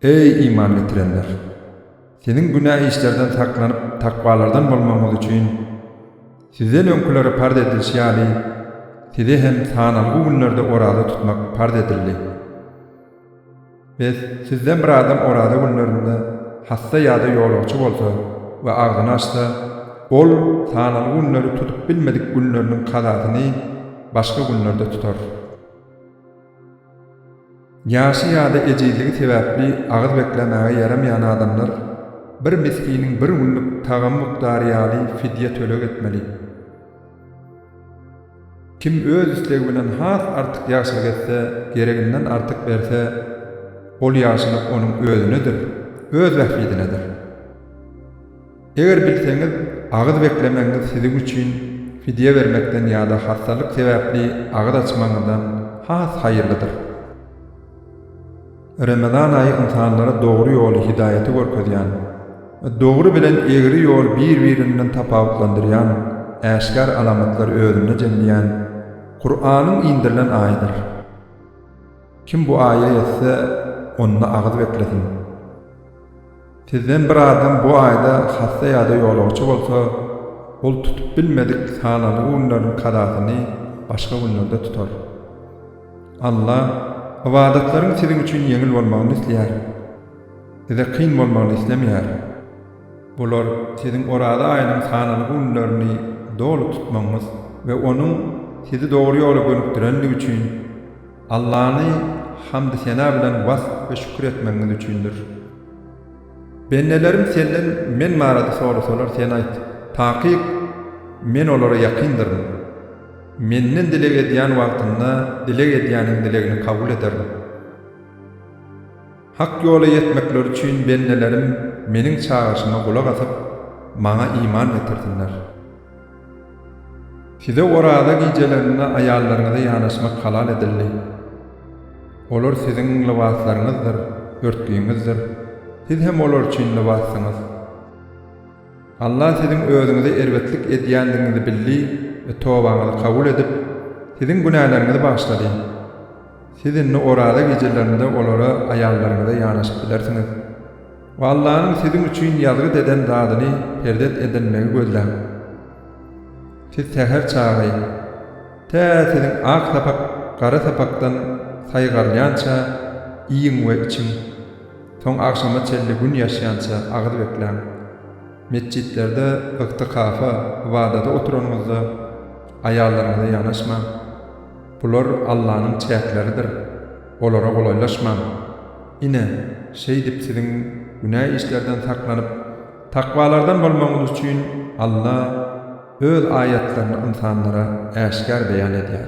Eý, iman getirenler! Siziň günä işlerden saklanyp, takwalardan bolmagyňyz üçin, sizden öňkülere parz edilişi ýaly, size hem sanalgy günlerde oraza tutmak parz edildi. Bes, sizden bir adam oraza günlerinde hassa ýa-da ýolagçy bolsa we agzyny açsa, ol sanaly günleri tutup bilmedik günleriniň kazasyny başga günlerde tutar. Ýaşy ýa-da ejizligi sebäpli agyz beklemäge ýaramaýan adamlar bir miskiniň bir günlük tagamy mukdary ýaly fidýe töleg etmeli. Kim öz islegi bilen has artyk ýagşylyk etse, gereginden artyk berse, ol ýagşylyk onuň özünedir, öz bähbidinedir. Eger bilseňiz, agyz beklemegiňiz siziň üçin fidýe bermekden ýa-da hassalyk sebäpli agyz açmagyňyzdan has haýyrlydyr. Remezan aýy ynsanlara dogry ýoly, hidaýaty görkezýän, dogry bilen egri ýol bir-birinden tapawutlandyrýan äşgär alamatlary özünde jemleýän Kuranyň indirilen aýydyr. Kim bu aýa ýetse, onda agyz beklesin. Sizden bir adam bu aýda hassa ýa-da ýolagçy bolsa, ol tutup bilmedik sanalgy günleriň kazasyny başga günlerde tutar. Alla ybadatlaryň siziň üçin ýeňil bolmagyny isleýär. Size kyn bolmagyny islemeýär. Bular siziň Oraza aýynyň sanalgy günlerini doly tutmagyňyz we onuň sizi dogry ýola gönükdirendigi üçin Allany hamdy-sena bilen wasp we şükür etmegiňiz üçindir. Bendelerim Senden men barada sorasalar, Sen aýt, Takyk Men olara ýakyndyryn. Menden dileg edýän wagtynda dileg edýäniň dilegini kabul ederin. Hak ýola ýetmekleri üçin bendelerim Meniň çagyryşyma gulak asyp, Maňa iman getirsinler. Size Oraza gijelerinde aýallaryňyza ýanaşmak halal edildi. Olar siziň lybaslaryňyzdyr, örtügiňizdir. Siz hem olar üçin lybassyňyz. Allah siziň özüňize erbetlik edýändigiňizi bildi we tobaňyzy kabul edip, siziň günäleriňizi bagyşlady. Siz indi oraza gijelerinde olara aýallaryňyza ýanaşyp bilersiňiz. We Allanyň siziň üçin ýazgyt eden zadyny perzet edinmegi gözläň. Siz säher çagy, tä siziň ak sapak gara sapakdan saýgarylýança iýiň we içiň. Soň agşama çenli gün ýaşýança agyz bekläň. Metjitlerde ygtykafa, ybadata oturanyňyzda, aýallaryňyza ýanaşmaň. Bular Allanyň çäkleridir, olara golaýlaşmaň. Ine, şeýdip siziň günä işlerden saklanyp, takwalardan bolmagyňyz üçin Alla Öz aýatlaryny ynsanlara äşgär beýan edýär.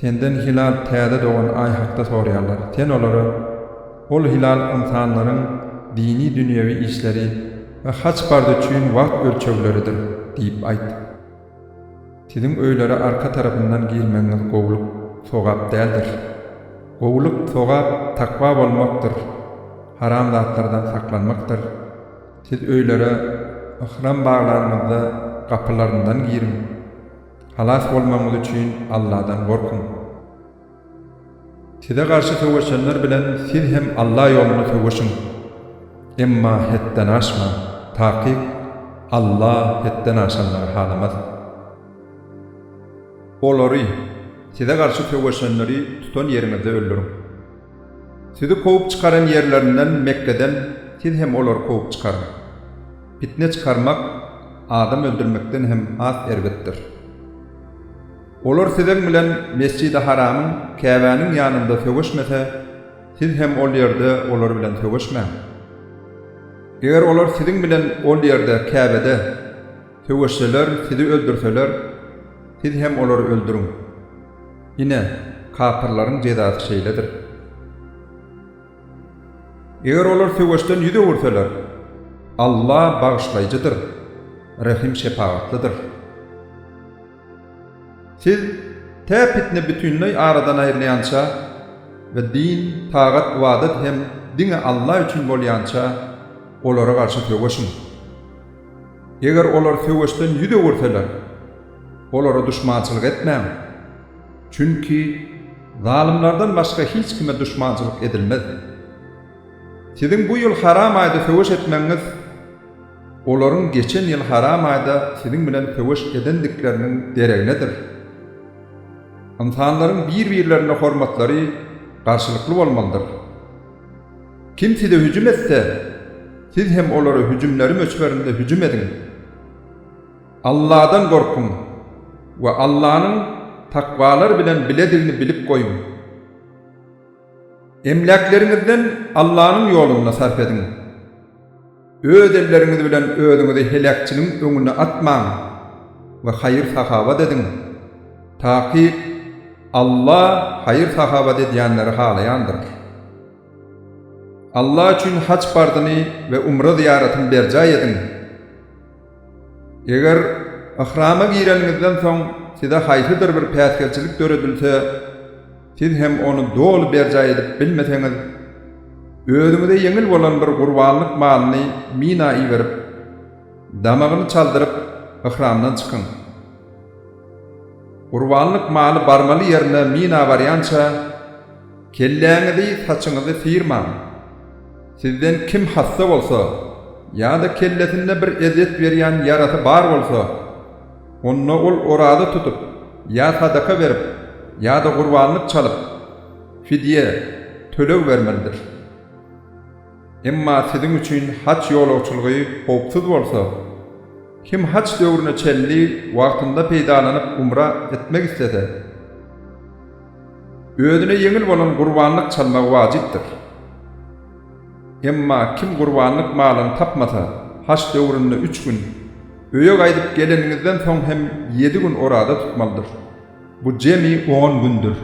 Senden hilal täze dogan aý hakda soraýarlar. Sen olara, Ol hilal ynsanlaryň dini-dünýewi işleri we haç-parz üçin wagt ölçegleridir diýip aýt. Siziň öýlere arka tarapyndan girmegiňiz gowulyk, sogap däldir. Gowulyk, sogap, takwa bolmakdyr, haram zatlardan saklanmakdyr. Siz öýlere yhram baglanyňyzda gapylaryndan giriň. Halas bolmagyňyz üçin Alladan gorkuň. Size garşy söweşenler bilen siz hem Alla ýolunda söweşiň. Emma hetden aşmaň, takyk Alla hetden aşanlary halamaz. Olary, size garşy söweşenleri tutan ýeriňizde öldüriň. Sizi kowup çykaran ýerlerinden, Mekgeden, siz hem olary kowup çykaryň. Pitne çykarmak adam öldürmekden hem has erbetdir. Olar siziň bilen Mesjidi Haramyň, Käbäniň, ýanynda söweşmese, siz hem ol ýerde olar bilen söweşmäň. Eger olar siziň bilen ol ýerde, Käbede, Söweşseler, sizi öldürseler, siz hem olary öldüriň. Ine, kapyrlaryň jezasy şeýledir. Eger olar söweşden ýüz öwürseler, Alla Bagyşlaýjydyr, Rehim-şepagatlydyr. Siz, tä pitne bütinleý aradan aýrylýança we din, tagat-ybadat hem diňe Alla üçin bolýança, olara garşy söweşiň. Eger olar söweşden ýüz öwürseler, olara duşmançylyk etmäň. Çünki zalymlardan başga hiç kime duşmançylyk edilmez. Siziň bu ýyl haram aýda söweş etmegiňiz, olaryň geçen ýyl haram aýda siziň bilen söweş edendikleriniň dereginedir. Ynsanlaryň bir-birlerine hormatlary garşylykly bolmalydyr. Kim size hüjüm etse, siz hem olara hüjümleri möçberinde hüjüm ediň. Alladan gorkuň we Allanyň takwalar bilen biledigini bilip goýuň. Emläkleriňizden Allanyň ýolunda sarp ediň. Öz elleriňiz bilen özüňizi heläkçiligiň öňüne atmaň we haýyr-sahawat ediň. Takyk Alla haýyr-sahawat edýänleri halaýandyr. Alla üçin haj parzyny we umra zyýaratyny berjaý ediň. Eger yhrama gireniňizden soň size haýsydyr bir päsgelçilik döredilse, siz hem ony doly berjaý edip bilmeseňiz, özüňize ýeňil bolan bir gurbanlyk malyny Mina iberip, damagyny çaldyryp, yhramdan çykyň. Gurbanlyk maly barmaly ýerine Mina barýança, Kelläňizi, saçyňyzy syrmaň. Sizden kim hassa bolsa ýa-da kellesinde bir ezýet berýän ýarasy bar bolsa, onda ol oraza tutup ýa sadaka berip ýa-da gurbanlyk çalyp, fidýe, töleg bermelidir. Emma siziň üçin haç ýolagçylygy howpsuz bolsa, kim haç döwrüne çenli wagtynda peýdalanyp umra etmek islese, Özüne ýeňil bolan gurbanlyk çalmagy wajypdyr. Emma kim gurbanlyk malyny tapmasa, haç döwründe üç gün, öýe gaýdyp geleniňizden soň hem ýedi gün oraza tutmalydyr. Bu jemi on gündür.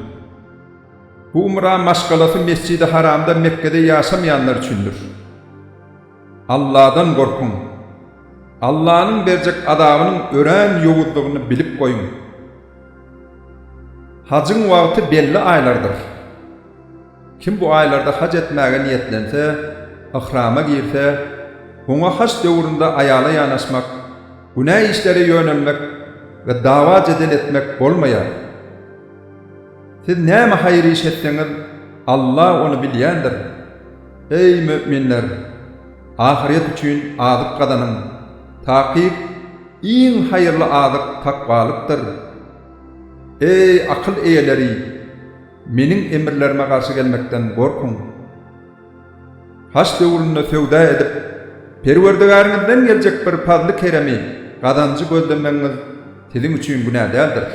Bu umra maşgalasy Mesjidi Haramda Mekgede ýaşamaýanlar üçindir. Alladan gorkuň! Allanyň berjek azabynyň örän ýowuzdygyny bilip goýuň! Hajyň wagty belli aýlardyr. Kim bu aýlarda haj etmäge niýetlense, yhrama girse, oňa haj döwründe aýala ýanaşmak, günä işlere ýönelmek we dawa-jedel etmek bolmaýar. Siz näme haýyr iş etseňiz, Alla ony bilýändir. Eý, möminler! Ahyret üçin azyk gazanyň. Takyk, iň haýyrly azyk takwalykdyr. Eý, akyl eýeleri! Meniň emirlerime garşy gelmekden gorkuň. Haç döwründe söwda edip, Perwerdigäriňizden geljek bir pazly-keremi, gazanjy gözlemegiňiz siziň üçin günä däldir.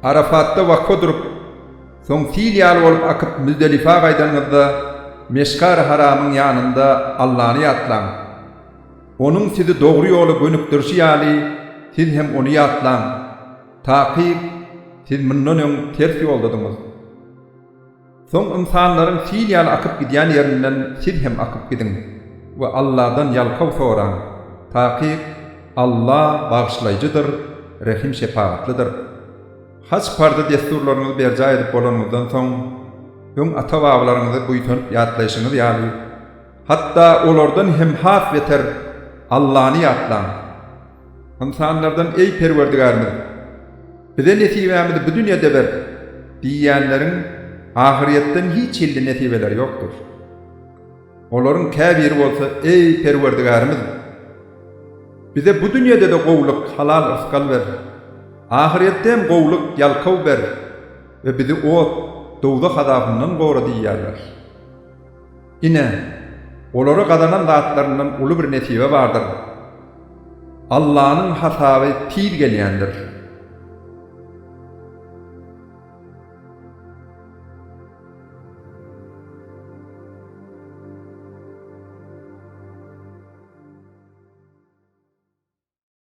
Arafatda wakfa durup, soň sil ýaly bolup akyp Müzdelifa gaýdanyňyzda, Meşgar-y Haramyň ýanynda Allany ýatlaň. Onuň sizi dogry ýola gönükdirişi ýaly, siz hem Ony ýatlaň. Takyk, siz mundan öň ters ýoldadyňyz. Soň ynsanlaryň sil ýaly akyp gidýän ýerinden siz hem akyp gidiň we Alladan ýalkaw soraň. Takyk, Alla Bagyşlaýjydyr, Rehim-şepagatlydyr. Haj parzy-dessurlaryňyzy berjaý edip bolanyňyzdan soň, öň ata-babalaryňyzy buýsanyp ýatlaýşyňyz ýaly, hatda olardan hem has beter Allany ýatlaň. Ynsanlardan, Eý, Perwerdigärimiz! Bize nesibämizi bu dünýede ber! diýýänleriň ahyrýetden hiç hilli nesibeleri ýokdur. Olaryň käbiri bolsa, Eý, Perwerdigärimiz! Bize bu dünýede-de gowulyk, halal yrsgal ber! Ahyrýetde hem gowulyk, ýalkaw ber we bizi ot, dowzah, azabyndan gora diýýärler. Ine, olara gazanan zatlaryndan uly bir nesibe bardyr. Allanyň hasaby tiz gelýändir.